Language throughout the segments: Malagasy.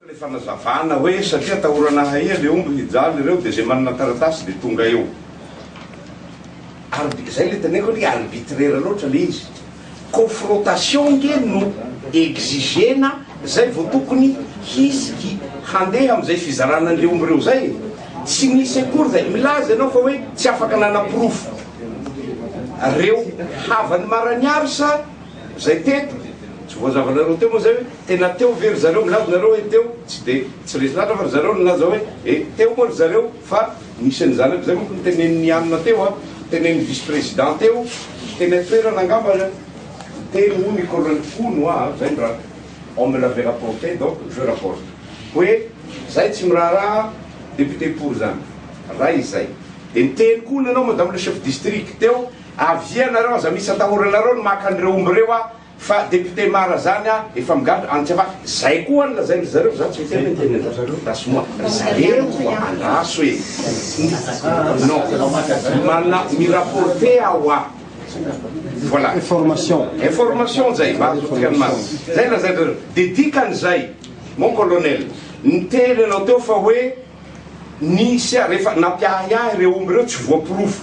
le fanazavana hoe satria atahorana hahia le omby hijaly ireo de ze manana taratasy de tonga eo Arbi, zay le teneniko anie arbitraire loatra le izy. Confrontation ange no exigena zay vao tokony hisiky handeha amzay fizarana anle omby reo zay e. Tsy nisy akory zay. Milaza ianao fa hoe tsy afaka nanaporofo reo havany maraniaro sa zay teto. Tsy voazavanareo teo moa zay hoe tena teo ve ry zareo. Milaza nareo hoe teo, tsy de tsy resy latra fa ry zareo nilaza hoe e teo moa ry zareo. Fa nisy an'i zanako izay manko notenenin'i Hanina teo an, tenenin'ny vice président teo, teny an-toerana angamba le teny hono i colonel hono hoa an, zay ny raha on me l'avait rapporté donc je rapporte hoe zay tsy miraharaha député pour zany raha izay de niteny koa hono ianao madame le chef district teo avia nareo aza misy atahoranareo ny maka an'ireo omby ireo hoa Fa député mara zany a efa migadra any tsy afaka zay koa ny lazain dry zareo za tsy miteny hoe ny tenin dry zareo gasy moa ry zareo koa andraso e non mana mi rapporte ao a voilà information information zay mba azontsika ny marina zay lazain dry zareo de dikany zay mon colonel niteny anao teo fa hoe nisy a rehefa nampiahiahy reo omby reo tsy voaporofo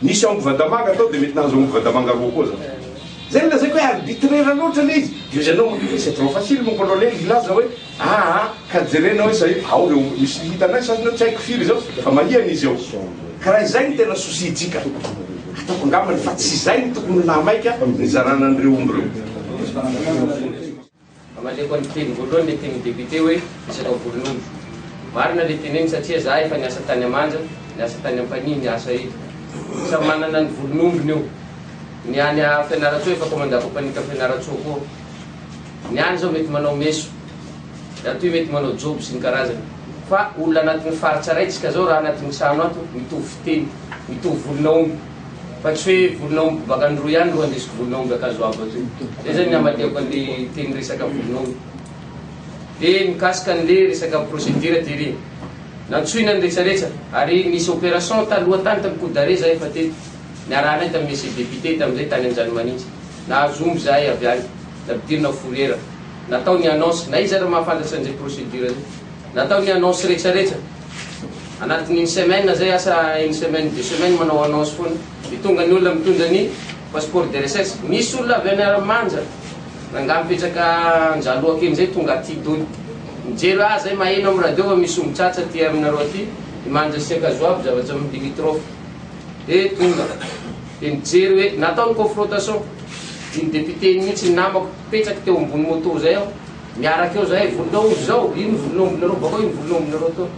Nisy ao Mvadamanga tao dia mety nahazo ao Mvadamanga roa koa za. Zay no lazaiko hoe arbitraire loatra le izy. Dia hozy anao hoe c'est trop facile mon colonel hilaza hoe aa ka jerena hoe zay ao reo misy hitanay sasany ao tsy haiko firy zao fa mahihana izy ao. Ka raha izay no tena souci ntsika ataoko angambany fa tsy izay no tokony ho laha maika nizarana an'ireo omby ireo. Amaliako ny teny voalohany le tenin'ny député hoe resaka volon'omby. Marina le teneny satria za efa niasa tany Amanja, niasa tany Ampanihy ny asa eto. Samy manana ny volon'ombiny io. Ny any a Fianarantsoa efa commanda compagnie-ka Fianarantsoa koa. Ny any zao mety manao meso, ratoy mety manao jobo sy ny karazany. Fa olona anatin'ny faritra raintsika zao raha anatin'ny trano ato mitovy fiteny, mitovy volon'aomby. Fa tsy hoe volon'aomby baka any roa ihany ro andesiko volon'aomby akany zao abo aty. Zay zany ny hamatehako anle teny resaka volon'aomby. De mikasika anle resaka procédure ty ry. Nantsoina ny retraretra ary nisy opération taloha tany tam coup d'arrêt zahay efa teto. Niarahanay tam monsieur député tamzay tany Anjanimanitra. Nahazo omby zahay avy any. Nampidirina fourrière. Natao ny annonce. Na iza ary mahafantatra anze procédure zay. Natao ny annonce rehetra rehetra anatin'ny une semaine zay asa une semaine deux semaines manao annonce foana de tonga ny olona mitondra ny passeport de recherche nisy olona avy any Aramanja nangah mipetraka Anjaloha kely zay tonga aty dony mijery hoe ah zay maheno am radio fa misy ombitratsa aty aminareo aty i Manja sy Ankazoabo zavatra am limitrophe de tonga de nijery hoe natao ny confrontation iny député iny mihitsy ny namako mipetraka teo ambony moto zay aho Miaraka eo zahay volonao izao iny volonao aminareo bakao iny volonao aminareo to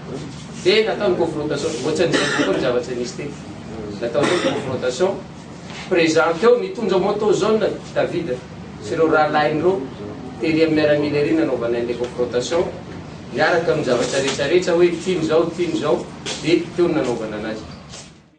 de natao ny confrontation ohatsan'izay koa ny zavatra nisy teto natao ny confrontation present teo nitondra moto jaune David sy ireo rahalahiny ireo tery amin'ny miaramila ery nanaovanay an'ilay confrontation miaraka amin'ny zavatra rehetrarehetra hoe ity ny zao ity ny zao de teo ny nanaovana anazy.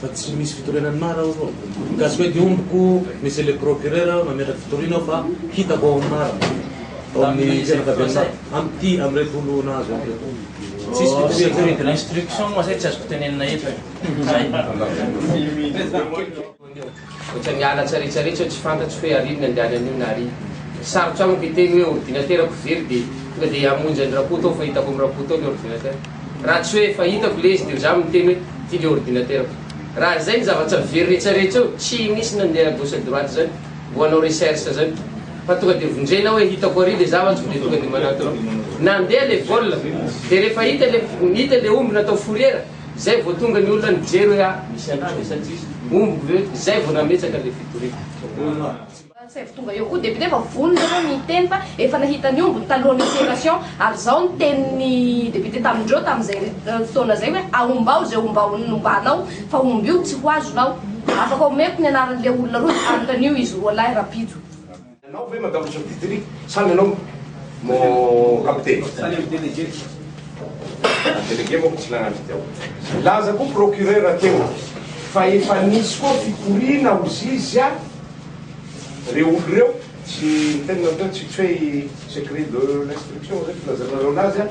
Fa tsy misy fitoriana ny mara ao aloha. Ka tsy mety ombiko misy le procureur mametraky fitoriana ao fa hitako ao amin'ny mara. Ao amin'ny fianakavian'ny mara. Amin'ity, amin'ireto olo nahazo an'ireto. Tsisy fitoriana zany. Instruction moa zay tsy azoko tenenina eto e. Zay. Ohatran'ny miala tsaretsaretsy aho tsy fantatro hoe ary ny andany anio na ary. Sarotra amiko hiteny hoe ordinaterako very dia tonga dia hamonjy an'i Rakoto aho fa hitako amin'i Rakoto ao ilay ordinaterako. Raha tsy hoe fa hitako ilay izy dia izaho miteny hoe ity ilay ordinaterako. Raha izay ny zava-tsa very rehetrarehetra eo, tsy nisy nandeha gauche à droite izany, mbo hanao recherche izany. Fa tonga dia vonjena aho hoe hitako ary ilay zavatra dia tonga dia manatona aho. Nandeha ilay vol dia rehefa hita ilay hita ilay omby natao fourrière, Zay vao tonga ny olona nijery hoe ah misy anah ve sa tsisy? Ombiko ve? Zay vao nametsaka le fitoriana. Zay vao tonga eo koa député efa vonona ireo niteny fa efa nahita ny ombiny talohan'ny operation ary zao ny tenin'ny député tamindreo tamin'izay fotoana zay hoe aombao izay ombao nombanao fa omby io tsy ho azonao. Afaka omeko ny anaran'le olona roa de anontanio izy roa lahy rapido. Ianao ve Madame Sofidry sa ny anao mon capitaine? Sa ny délégué? Ny délégué manko tsy nagnano fideo. Nilaza koa procureur teo fa efa nisy koa fikoriana ho zizia reo olo reo, tsy ny tenany reo, tsy hoe i secret de l'instruction zay filazanareo anazy an.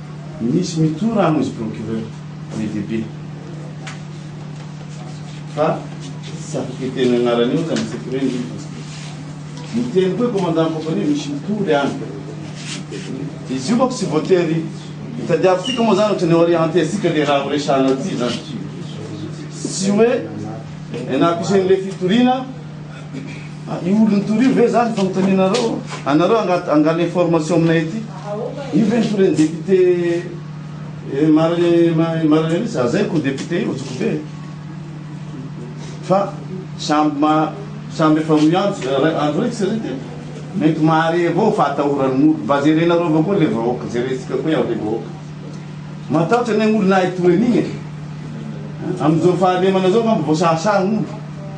Misy mitoa rano izy procureur be dia be fa tsy afaka hiteny anarany eo zany tsy hoe ny miteny koa commandant ny compagnie misy mitoa le any izy io manko tsy voatery hitadiavintsika moa zany ohatrany oria hantehantsika le raha horesahana aty zany tsy hoe enapisen' le fitoriana Io olon'ny tory io ve zany fanontanianareo? Anareo angaha angala information aminay aty? Io ve ny torin'ny député Marie Marie-Alice? Aza aiko io député io, joky be e! Fa samby ma samby efa rohy andro ray andro ray tsy re teo? Mety mahare avao fahatahoran'ny mody, mba jerenareo avao koa le vahoaka, jerentsika koa iany le vahoaka. Matahotra anie ny olona ahy toy an'igny e! Amin'izao fahalemana zao angamba vao sahasaha gn'olo.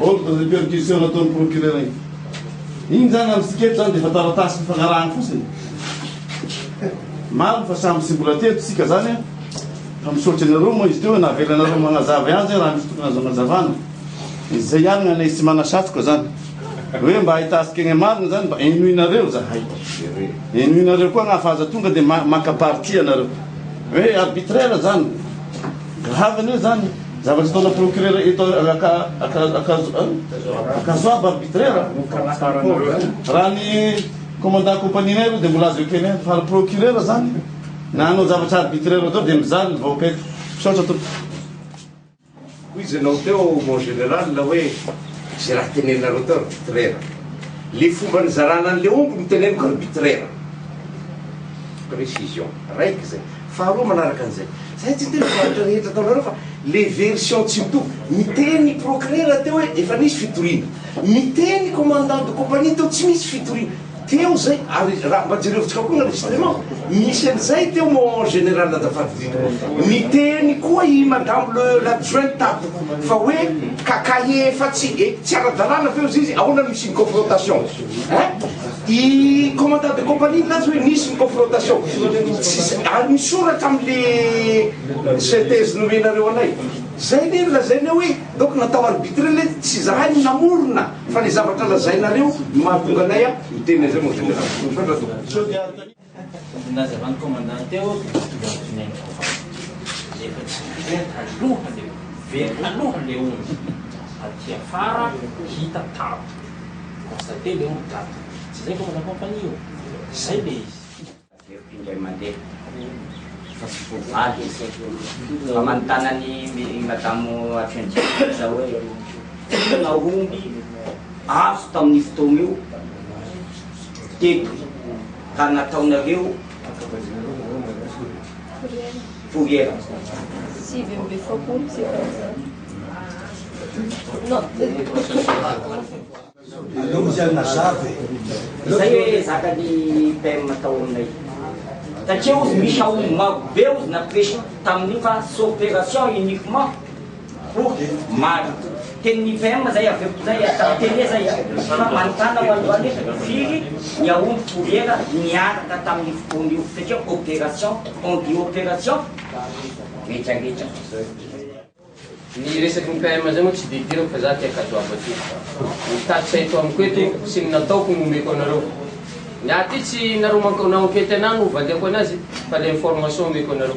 Ordre de perquisition nataon'ny procureur iny. Iny zany amin'ny sika eto zany dia efa taratasy fifanarahana fotsiny. Marina fa samy tsy mbola teto isika zany an. Fa misaotra anareo moa izy teo hoe navelanareo magnazava ihany zay raha misy tokony azo agnazavana. Izay ihany ny anay tsy manasatroka zany. Hoe mba ahitantsika ny marina zany mba henoinareo zahay. Henoinareo koa agnah fa aza tonga dia maka partie anareo. Hoe arbitraire zany. Grave an'io zany. Zavatra ataona procureur eto akazoaba arbitraire raha ny commandant compagnie nay aloha dia mbola azo ekena fa raha procureur zany na anao zavatra arbitraire atao dia mizaly ny vahoaka eto misaotra tompoko hoy izay nao teo mon general hoe izay raha teneninareo teo arbitraire le fomba nizarana an'le omby no teneniko arbitraire précision raika izay Faharoa manaraka an'izay, zahay tsy niteny faritra rehetra ataonareo fa le version tsy mitovy, miteny ny procureur teo hoe efa nisy fitoriana, miteny ny commandant de compagnie teo tsy misy fitoriana, teo zay, ary raha mba jerevintsika koa ny enregistrement, misy an'izay teo moa en general azafady indrindra, niteny koa i madame le l'adjoint tato fa hoe kakae efa tsy, tsy ara-dalàna ve hozy izy, ahoana no hisian'ny confrontation? Hein? I commandant de compagnie milaza hoe nisy ny confrontation. Tsisy, ary misoratra amle synthèse nomenareo anay. Zay le lazainay hoe donc natao arbitré le tsy zahay no namorona fa le zavatra lazainareo no mahatonga anay a miteny an'izay mon général. Misaotra tompoko. Ny nazavan'ny commandant teo dia tsy tonga amin-dry Neny Kovavy rehefa tsy very haloha le very haloha le omby aty afara hita tato constater le omby tato tsy zay commandant compagnie io? zay le izy. Averiko indray mandeha fa tsy ho valy izy fa manontana an'i madamo adjoint directeur za hoe inona omby azo tamin'io fotoana io? teto ka nataonareo fourrière sivy amby efapolo sy efajato Aleo izy any mazava e. Izay hoe zakany PM atao aminay. Satria ozy misy aomby maro be ozy na presy tamin'io fa c'est opération uniquement Oh Maro. Teny nivem zay avy eo inay a, tamin'ny tele zay a, fa manontàna ho an'zany hoe firy ny aomby troera niaraka tamin'io fotoana io, satria opération, on dit opération retraretra zay. Ny resaky ny PM zay moa tsy de idirako fa za tia kadoabo aty. Ny tatitra eto amiko eto sy ny nataoko no omeko anareo. Ny ahy aty tsy nareo mank na enquête anah no valiako anazy fa le information omeko anareo.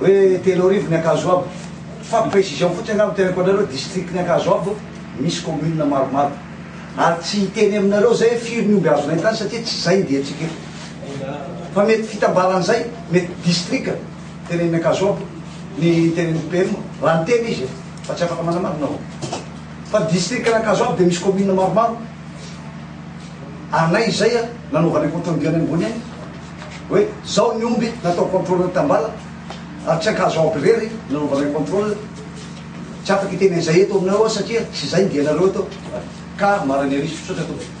Hoe telo arivo ny Ankazoabo. Fa précision fotsiny angamba teneniko anareo, district ny Ankazoabo misy commune maromaro. Ary tsy hiteny aminareo zay hoe firy ny omby azonay tany satria tsy zay ny diantsika eto. Fa mety fitambaran'izay, mety district tenenin'ny Ankazoabo ny tenenin'ny PM raha niteny izy e. Fa tsy afaka manamarina aho. Fa district ny Ankazoabo dia misy commune maromaro. Ary na izay a, nanaovanay compte rendu any ambony any. hoe zao ny omby natao controle tambala ary tsy ankazo ampy irery nanaovanay controle, tsy afaka hiteny an'izay eto aminareo aho satria tsy izay ny dianareo eto ka marina ery, misaotra tompoko.